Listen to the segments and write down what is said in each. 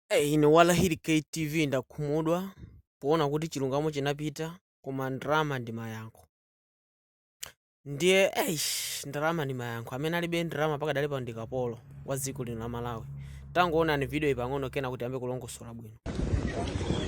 Eh, ine walahiri KTV ndakhumudwa poona kuti chilungamo chinapita koma ndalama ndi mayankho ndiye eish ndalama ndi mayankho amene alibe ndalama pakadali pa ndi kapolo wa dziko lino la malawi tangoonani video iyi pang'ono kenaka tiyambe kulongosola bwino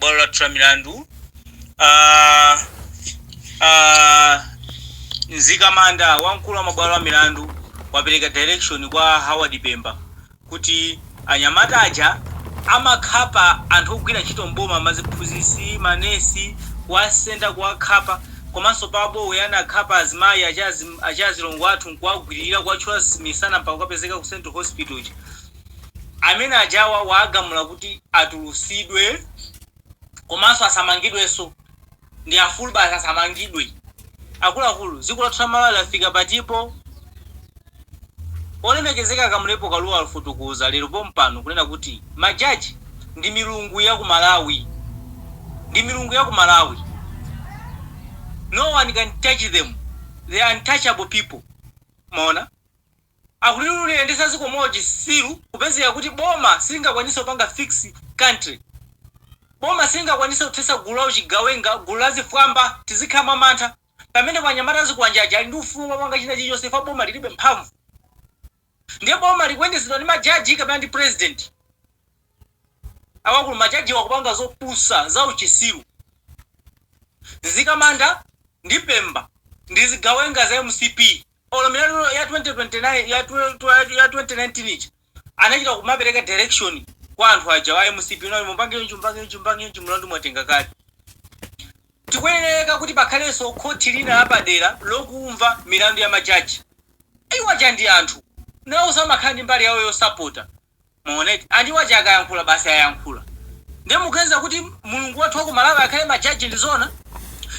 bwalo lathu la milandu ah, ah, mzikamanda wamkulu wa mabwalo a milandu wapereka direction kwa Howard Pemba kuti anyamata aja amakhapa anthu ogwira ntchito m'boma maziphunzitsi manesi kuwasenda kuwakhapa komanso pa Mbowe anakhapa azimayi aja azi aja azilongo athu nkuwagwirira kuwathyola misana mpaka kukapezeka ku central hospital uja amene ajawa waagamula kuti atulusidwe komanso asamangidwenso ndi afulu basi asamangidwe akuluakulu dziko lathu la malawi lafika patipo Olemekezeka Kamlepo Kalua Wafotokoza Lero Pompano Kunena Kuti Ma Judge Ndi Milungu Ya Ku Malawi Ndi Milungu Ya Ku Malawi No One Can Touch Them They Are Untouchable People Mwaona Akuliyendesa Ziko Mwa Uchisiru Kupezeka Kuti Boma Silingakwanise Kupanga Fix Country Boma Silingakwanise Kuthesa Gulu La Uchigawenga Gulu La Zifwamba Tizikhala Mwa Mantha Pamene pano anyamata azikwanje aja ali ndi ufulu womapanga china chilichonse chifukwa boma lilibe mphamvu. Ndiye boma likuyendetsedwa ndi majaji kapena ndi president? Akuluakulu majajiwa akupanga zopusa, zauchisiru. Mzikamanda ndi pemba ndi zigawenga za mcp olo milandu ya 2029 ya 2019 ija. anachita kumapereka direction kwa anthu aja a mcp kuti mupange chonchi mupange chonchi mupange chonchi mulandu mwatenga kale tikuyenereka kuti pakhalenso khoti lina lapadera lokumva milandu ya majaji iwo aja ndi anthu nawonso amakhala ndi mbali yawo yosapota mwaona eti and iwo aja akayankhula basi ayankhula ndiye mukuganiza kuti mulungu wathu wa ku malawi akhale majaji ndi zoona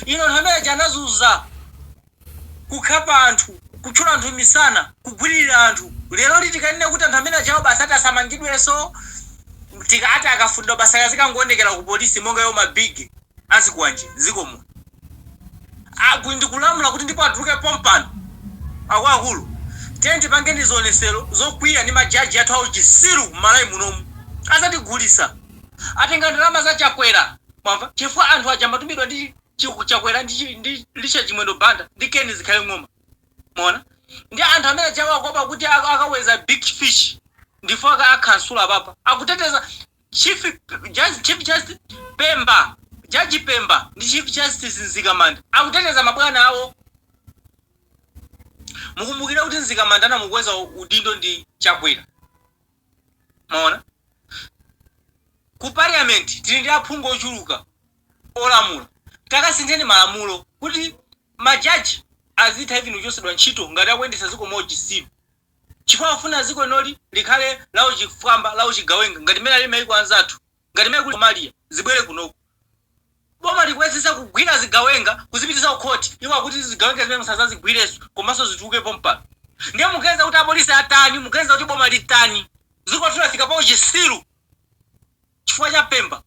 inu anthu amene aja anazunza kukhapa anthu, kuthyola anthu misana, kugwirira anthu. Leroli tikanene kuti anthu amene ajawa basi ati asamangidwenso? Akuti akafunidwa basi akazikangoonekera ku police monga iwo ma big azikwanje mdziko muno. A ndikulamula kuti ndipo atuluke pompano. Akuluakulu tiyeni tipange zionesero zokwiya ndi ma judge athu a uchisiru m'Malawi munomu. Azatigulisa. Atenga ndalama za Chakwera mwamva chifukwa anthu aja amatumidwa ndi Chiku chakwera ndi, chi, ndi Richard Chimwendo Banda ndi Ken Zikhale Ng'oma mwaona ndi anthu amene aja awakopa kuti ak- akaweza big fish ndi iwo aka akhansula papa akuteteza chief judge, chief justice Pemba jaji Pemba ndi chief justice Nzikamanda akuteteza mabwana awo mukumbukire kuti Nzikamanda anamukweza udindo ndi Chakwera mwaona ku parliament tili ndi aphungu ochuluka olamula takasintheni malamulo kuti majaji azitha even kuchotsedwa ntchito ngati akuyendetsa dziko mwauchisiru chifukwa akufuna dziko linoli likhale lauchifwamba lauchigawenga ngati mmene ali maiko anzathu Ngati mmene kuli Somalia, zibwere kunoko. Boma likuyetsetsa kugwira zigawenga kuzipititsa kukhoti. Iwo akuti zigawenga zimene musazazigwirenso komanso zituluke pompano. Ndiye mukuganiza kuti apolisi atani? Mukuganiza kuti boma litani? Dzikoli lafika pauchisiru chifukwa cha Pemba.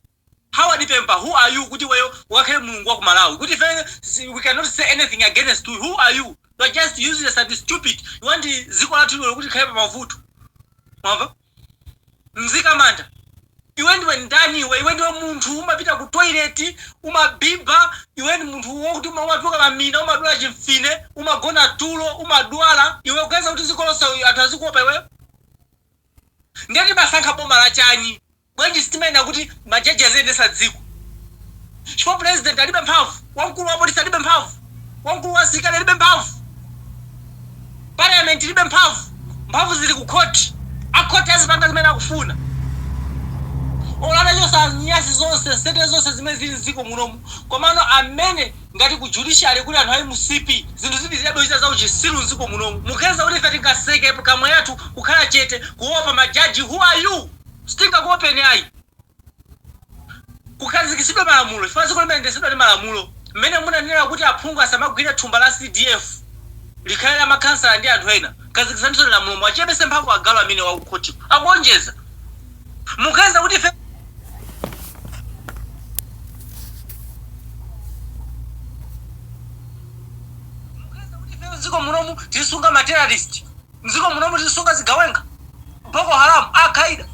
Howard Pemba who are you kuti iweyo ukakhale Mulungu wa ku Malawi? Kuti ifeyo we cannot say anything against you. Who are you? You are just useless and stupid. You want dziko lathu lino kuti likhale pamavuto. Mwamva? Nzikamanda iwe ndiwe ndani iwe iwe ndiwe munthu umapita ku toilet umabiba iwe ndi munthu wokuti uma- umatuluka mamina umadwala chimfine umagona tulo umadwala iwe ukuganiza kuti dziko lonse anthu azikuopa iwe ndiye timasankha boma la chani bwanji sitimanena kuti majaji aziyendesa dziko chifukwa president alibe mphamvu wamkulu wa polisi alibe mphamvu Wamkulu wa asilikali alibe mphamvu. Parliament ilibe mphamvu. Mphamvu zili ku khoti. A khoti azipanga zimene akufuna. Olo atachosa nyasi zonse, nsete zonse zimene zili m'dziko munomu, komano amene ngati ku judiciary kuli anthu a mcp, zinthu zipitililabe kuchita za uchisiru m'dziko munomu. Mukuganiza kuti ife tingaseke pkamwa yathu kukhala chete kuopa majaji? Who are you? Sitingakuopeni ayi. Kukhazikitsidwe malamulo chifukwa dziko limayendetsedwa ndi malamulo. Mmene munanenera kuti aphungu asamagwire thumba la CDF likhale la makhansala ndi anthu ena, khazikitsanisoni lamulo muwachepetse mphamvu agalu amenewo akukhotiko, akuonjeza. Mukuyesa kuti ife. Mukuyesa kuti ifeyo m'dziko munomu tizisunga ma terrorist? Mziko munomu tizisunga zigawenga boko haram alqaida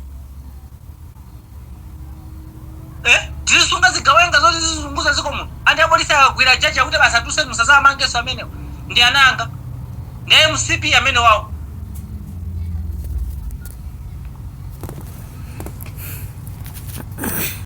eh tizisunga zigawenga zoti zizizunguza ziko muno andi apolisi akagwira jaji akuti basi atuluke musazamangenso amenewo ndi ana anga ndi a mcp amenewawo